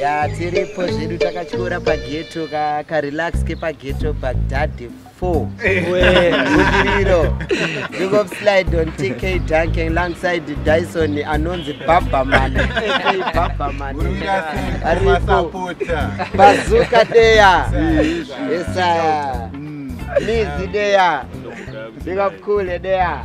ya tiripo zvedu takatyora pageto karelax kepageto bagdade 4 budiriro big of slide on tk dunking alongside dyson anonzi babaman babaman aripo bazuka deya esaya mizi deya big of cool deya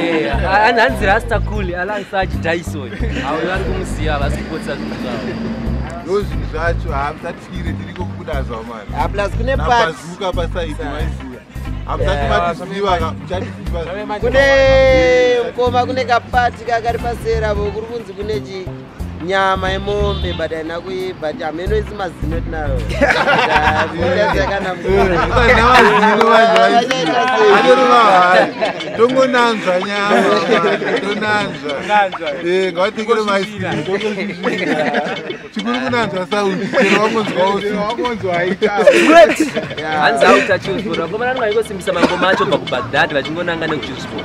Eh, hanzi rasta cool alansachi dyson avo vari kumuziva havasi kupotsa zvinhu zvavo ndo zvinhu zvacho hamusatire tiriko kubuda zva mani ah, plus kune pazuka pasaidi maiziva hamusati matiziva muchatiziva kune mkoma kune kapati kakari pasera vo kuri kunzi kune chii nyama yemombe but haina kuibva ti hameno isi mazino tinayo tongonanzva nyamatonanzvangavatekere chikuru kunanzva sauiwangonzwaohanzi autachiuzvora ngomana nwaikosimbisa mangoma acho bva kubagdad vachingonanga nekuchiusvora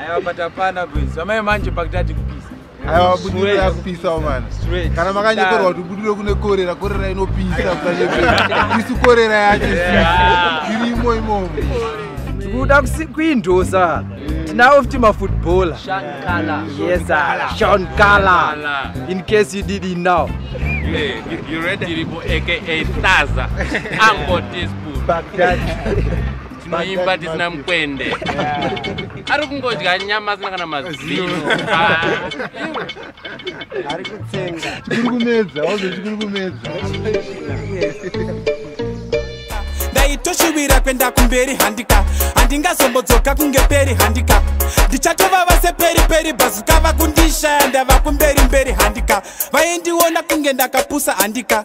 Aiwa but hapana boys. Amai manje pakutati kupisa. Aiwa budiro yakupisa umana. Kana makanyeperwa kuti budiro kune korera, korera inopisa kukanyeperwa. Isu korera yacho sisi. Irimo imomo. Tikuda kuindosa. Tinawo futi mafootballer. Sean Kala. Yes sir. Sean Kala. In case you did it now. Yeah, you, you ready? Diribo aka Taza. Ambo teaspoon. Baghdad. tinoimba tisina mukwende ari kungodya nyama asina kana mazino ah. ari kutsenga chikuri kumedza wazo chikuri kumedza ndaitoshuvira kuenda kumberi handika handingazombodzoka kunge peri handika ndichatova vase peri peri bhazuka vakundishaya ndava kumberi mberi handika vaindiona kunge ndakapusa handika